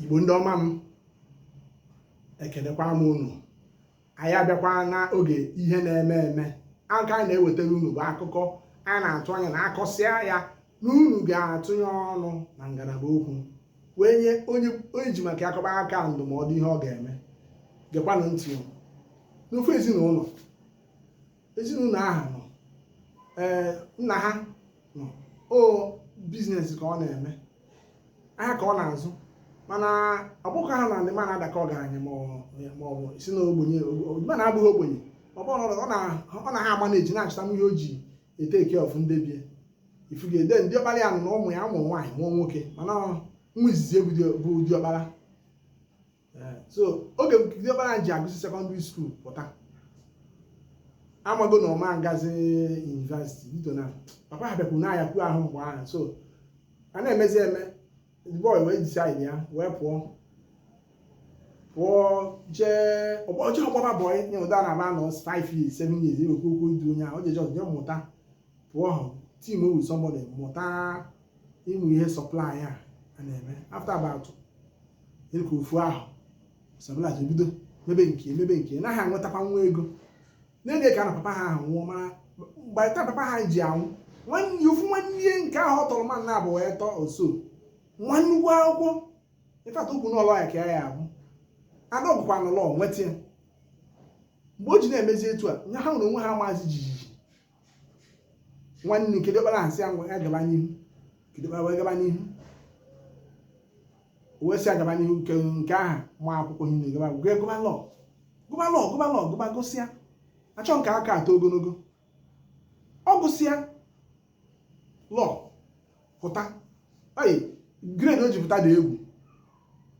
igbo ndị ọma m ekelekwa m unu anyị abịakwa n'oge ihe na-eme eme aka anyị na-ewetara unu bụ akụkọ anyị na-atụ anya na akọsịa ya na unu ga-atụnye ọnụ na ngalaba okwu wee nye onye e ji maka akọba aka ndụmọdụ ihe ọ ga-eme gekwanụ ntị n'ofu ezinụlọ ezinụlọ ahụ nọ ee nna ha nọ ọ business ka ọ na-eme ahịa ka ọ na-azụ mana ọ bụghị ha na ndị ma na-adakọ ọgaranya ma ọ bụ si na ogbenye ma na abụghị ogbenye ọ bụrụ na ọ na- ọ na ha ama na-eji na-achụta ihe o ji e-take care of ndị be ya ịfụgo diọkpara ya nọ na ụmụ ya mụọ nwaanyị mụọ nwoke mana nwa izizi ya bụ dị- bụ diọkpara eh, so oge diọkpara ji agụsị secondary school pụta ọ mago na ọ ma agazi university due to na papa ha bịakwuru n'ahịa kwuo ahụ mgbe ahụ so a na-emezi eme boy wee decide wee pụọ pụọ jee ọ bụghọ ọ gbaba boy nke ụdị a na-anọ 5 years 7 years e wee kwuo okwu idu onye ahụ o jeje o jee mụta pụọ ahụ team with somebody mụta ụmụ ihe supply a a na-eme after about like ofu afọ stabilize bido mebe nke mebe nke ya na-enwetakwa nwa ego n'oge ka na papa ha ahụ nwụọ mana by the time papa ha ji anwụ nwanne ofu nwanne nke ahụ ọ tọrọ ma nna abụ wee tọọ oso nwa nnukwu akwụkwọ in fact ukwu n'ụlọ ya ka ya abụ ada ọgwụkwa n'ụlọ nweta ya mgbe o ji na-emezi etu a nna ha nwụọ onwe ha mazie jijiji nwanne nke diọkpara asị ya ngwa ya gaba n'ihu kedu ebe wee gaba n'ihu wee sị agaba n'ihu nke nke ahụ ma akwụkwọ ihe na-egaba gụọ gụba law gụba law gụba law gụba gụsịa achọghị m ka akụkọ too ogologo ọ gụsịa law pụta oyi grade o ji pụta dị egwu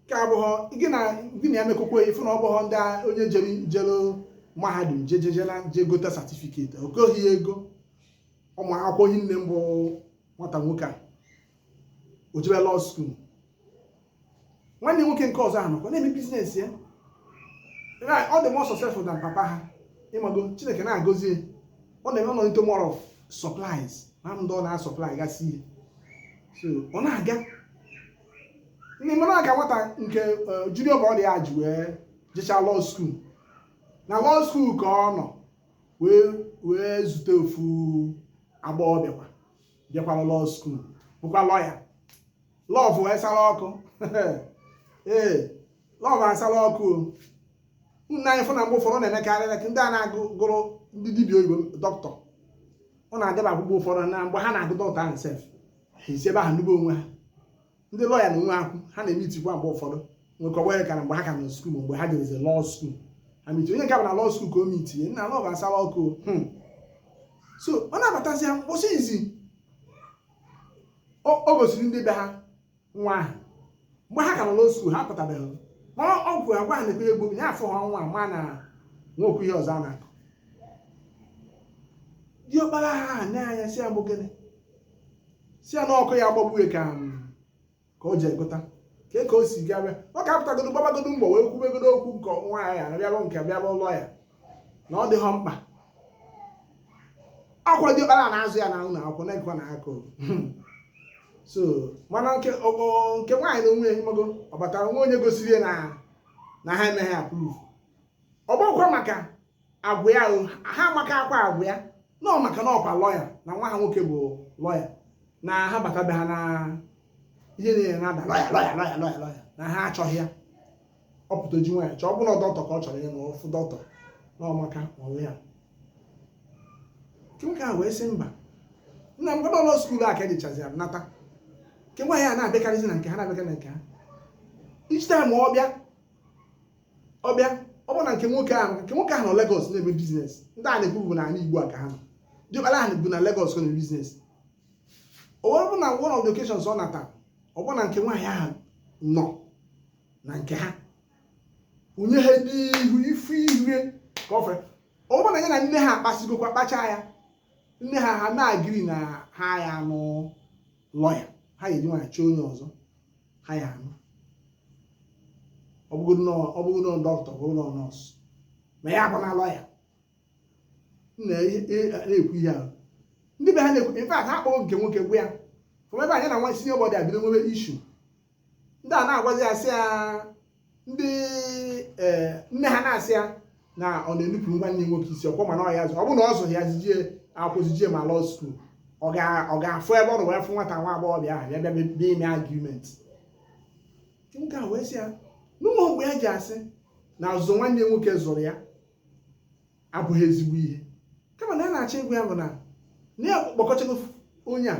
ka abụghọ gị na gị na ya mekọkwa ị fụ na ọ bụghọ ndị a- onye jere jere mahadum jejejela je gote certificate o goghị ya ego ọ ma akwụkwọ hinne bụ nwata nwoke a o jebe law school nwanne nwoke nke ọzọ ahụ nọkwa na-eme business ya Right, ọ dị more successful than papa ha ịmago chineke na-agọzi ya ọ na-eme ọ dị into more of supplies na ndị ọ na-asupply gasị ihe so ọ na-aga ndị mụ na-aga nwata nke eh, junior brother ya ji wee jechaa law school na law school ka ọ nọ wee wee zute ofu agbọghọ bịakwa bịakwara law school bụkwa lawyer lọvụ esala ọkụ ee lọvụ asala ọkụ o nna anyị fụ na mgbe ụfọdụ na-emekarị ka ndị a na-agụ gụrụ ndị dibịa oyibo dọkịta ọ na-adịba akwụkwọ ụfọdụ na mgbe ha na-agụ dọkịta ahụ sef esi ebe ahụ nụba onwe ha ndị lọya na onwe ha kwu ha na-eme itikwa mgbe ụfọdụ nwekọwa ya ka na mgbe ha ka nọ skuul mgbe ha jebezi lọọ skuul ha miti onye nke bụ na lọọ skuul ka o mitinye nna lọv asala ọkụ so ọ na-abatazi ya mkpụsị izi o gosiri ndị be ha nwa ahụ mgbe ha ka nọ na lọọ skuul ha pụtabeghị ma ọ gwụ agwa ha na-ekpere egbo ya afụ ha nwa mana e nwekwu ihe ọzọ a na-ekwu diọkpara ha na-anya sị ya ọ bụ gịnị sị ya na ọkụ ya gbagbuo ka ka o ji egota ka ka o si gaa bịa ọ ka apụtagodo gbabagodo mbọ wee kwubegodo okwu nke nwa ya bịalụ nke bịalụ ụlọ ya na ọ dịghọ mkpa ọ kwa diọkpara na-azụ ya na ụlọ akwụkwọ na-ekwe na akụ so mana nke nke nwaanyị na onwe ya mago ọ batara nwa onye gosiri ya na na ha emeghị approve ọ bụkwa maka agwa ya ha amaka akwa agwa ya na ọ maka na ọ kwa lọya na nwa ha nwoke bụ lọya na ha bata be ha na ihe niile na-ada lọya lọya lọya lọya lọya na ha achọghị ya ọ pụta ji nwaanyị chọọ ọ bụrụ dọkịta ka ọ chọrọ ịnụ ọ fụ dọkịta na ọ maka onwe ya nwoke a wee sị mba nna m gbadọ lọọ skuul a ka e jechazi ya nata nke nwaanyị a na-abịakarịzi na nke ha na-abịakarị na nke ha each time ọ bịa ọ bịa ọ bụ na nke nwoke ahụ nke nwoke ahụ nọ Lagos na-eme biznes ndị a na-ekwu bụ n'anị Igbo a ka ha nọ diọkpara ahụ bụ na Lagos ọ na-eme biznes o wee bụ na one of the occasions ọ nata ọ bụ na nke nwaanyị ahụ nọ na nke ha unye ha n'ihu ifu ihe ka o wee bụ na ya na nne ha akpasigo okwu a akpacha ya nne ha ha na-agree na ha ya-anụ lọya ha ga-eji nwanyị chọọ onye ọzọ ha ya-anụ ọ bụrụ na dọkịta ọ bụrụ na nọọsụ ma ya bụ na lọya na-ekwu ihe ahụ ndị be ha na-ekwu in fact ha kpọrọ nke nwoke gwa ya ọ mebe anya na nwa sinye bọdị abido nwebe issue ndị a na-agwazi ya sị ya ndị eh, nne ha na-asị ya na ọ na-enupụrụ nwanne nwoke isi ọ kwa ọ ma na ọ ya zụ ọ bụ na ọ zụrụ ya zije akwụ zije ma lọọ skuul ọ gaa fụ ebe ọ nọ wee fụ nwata nwa agbọghọbịa ahụ ya bịa bịa ime argument nwoke a wee sị ya na o nweghị mgbe ya ji asị na azụ nwanne nwoke zụrụ ya abụghị ezigbo ihe kama na a na-achọ ịgwa ya bụ na na ya gbakọchago onye a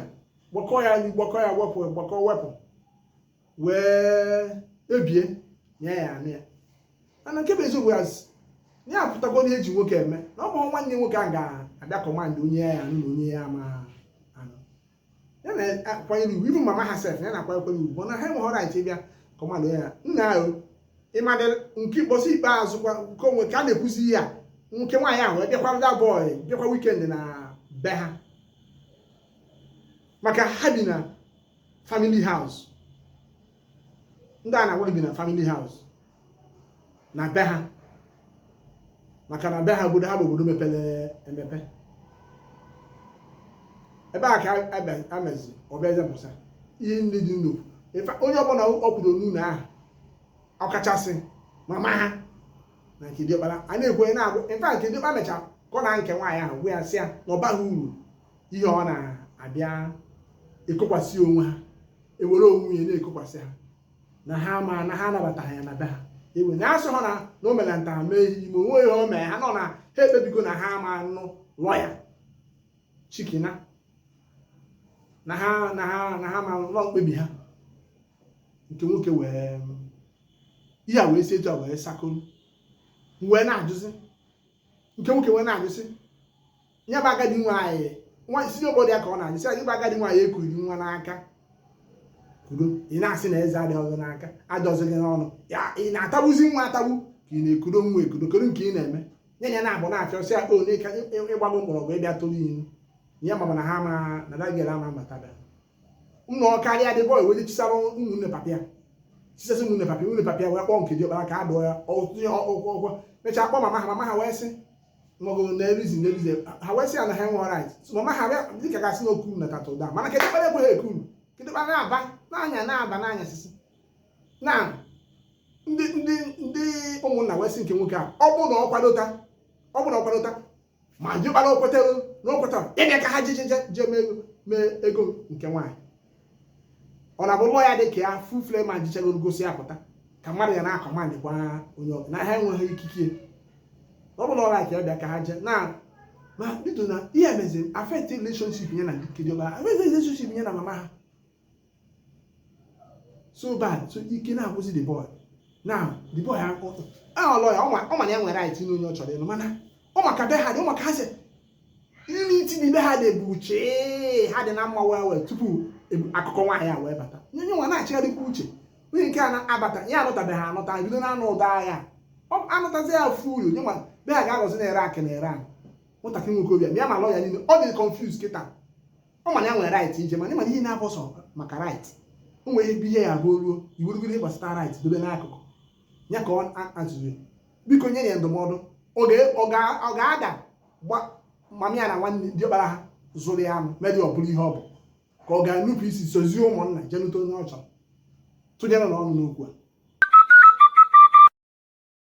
gbakọ ya gbakọ ya wepụ gbakọ wepụ wee ebie nye ya anụ ya mana nke bụ eziokwu ya ya apụtago na eji nwoke eme na ọ bụ nwanne nwoke a ga-abịa command onye ya anụ na onye ya ama anụ ya na-akwanyere ugwu ibu mama ha sef ya na-akwanyekwara ugwu bụ na ha enweghị right ịbịa command onye ya na-anụ ịmadị nke ikpọsị ikpeazụ kwa nke onwe ka a na-ekwuzi ya nwoke nwaanyị ahụ bịakwara the boy bịakwa weekend na be ha maka ha bi na family house ndị a na-agwa gị bi na family house na be ha maka na be ha obodo ha bụ obodo mepere emepe ebe a ka amezi ọ bịazie pụsa ihe ndị dị ndụ onye ọbụla ọ kwuru n'ụlọ ahụ ọkachasị mama ha na nke diọkpara a na-ekwe na-agwụ nke diọkpara mechaa kpọọ nke nwaanyị ahụ gwa ya sị ya na ọ baghị uru ihe ọ na-abịa ekokwasị onwe ha ewere onwe ya na-ekokwasị ha na ha ma na ha anabataghị ya na be ha ewe na asị ha na na o mere nta mee imo o nwe ihe o mee ha nọ na ha ekpebigo na ha ama anụlụ ya shikina na ha na ha na ha ma nọ mkpebi ha nke nwoke wee ihe a wee si etu a wee sakolu wee na-ajụzi nke nwoke wee na-ajụzi ya bụ agadi nwaanyị nwa isi obodo ya ka ọ na-anyị sị anyị bụ agadi nwaanyị ekunye nwa n'aka kuru ị na-asị na eze adịghị n'aka adịzighị n'ọnụ ya ị na-atagbuzi nwa atagbu ka ị na-ekudo nwa ekudo kedu nke ị na-eme nye ya na-abụ na-achọ sị akpa ole ka ịgbago mgbọrọgwụ ịbịa tụrụ ilu ya mama na ha ma na dagere ama mbatada ụlọ karịa the boy wee chisara ụmụnne papa ya chisasị ụmụnne papa ụmụnne papa ya wee kpọọ nke dị ọkpara ka a dụọ ya ọkwa mechaa kpọọ mama ha mama ha wee sị maọbụ na erizi na erizi ha wee sị ya na ha enwe right so mama ha bịa dịka gasị na okuru na katụda mana nke diọkpara ekwe ha ekuru nke diọkpara na-aba na-anya na-aba na-anya isi na ndị ndị ndị ụmụnna wee sị nke nwoke a ọ bụ na ọ kwadota ọ bụ na ọ kwadota ma diọkpara o kwetara na o kwetara ịbịa ka ha jejeje jee mee ego nke nwaanyị ọ na-abụlụ ya dị ka ya full fledged man jechagoro gụsịa pụta ka mmadụ ya na-akọmandị gwa onye ọbụla na ha enweghị ikike ọ bụla ọla ka ya bịa ka ha jee na ma bido na ihe meziri affect relationship ya na ndị kiri ọba affect relationship ya na mama ha so bad so ike na-agwụsị the boy na the boy ahụ although ya ọ ma ya nwere right ịnụ onye ọ chọrọ ịlụ mana ọ ma ka be ha dị ọ ma ka ha sị nri iti n'ibe ha dị bụ uche ha dị na mma wee wee tupu akụkọ nwaanyị a wee bata nye nwa na-achịgharịkwa uche onye nke a na-abata ya anụtabeghị anụta bido na anụ ụdọ agha anụtazi ya ofu uru nye nwa be ha ga-agọzi na-ere akị na ere ahụ nwatakịrị nwoke obi ya ma lọ ya niile ọ dị confused kịta ọ ma na ya nwere right ije mana ị ma na ihe na-abụ sọ maka right o nwere ihe bihe ya abụọ ruo iwerugoro ihe gbasata right dobe n'akụkụ ya ka ọ azụrụ biko nyenụ ya ndụmọdụ ọ ga-ada mami ya na nwanne diọkpara ha zụrụ ya anụ medi ọ bụrụ ihe ọ bụ ka ọ ga-enupụ isi sozie ụmụnna je nụta onye ọ chọrọ tụnyerenụ ọnụ n'okwu a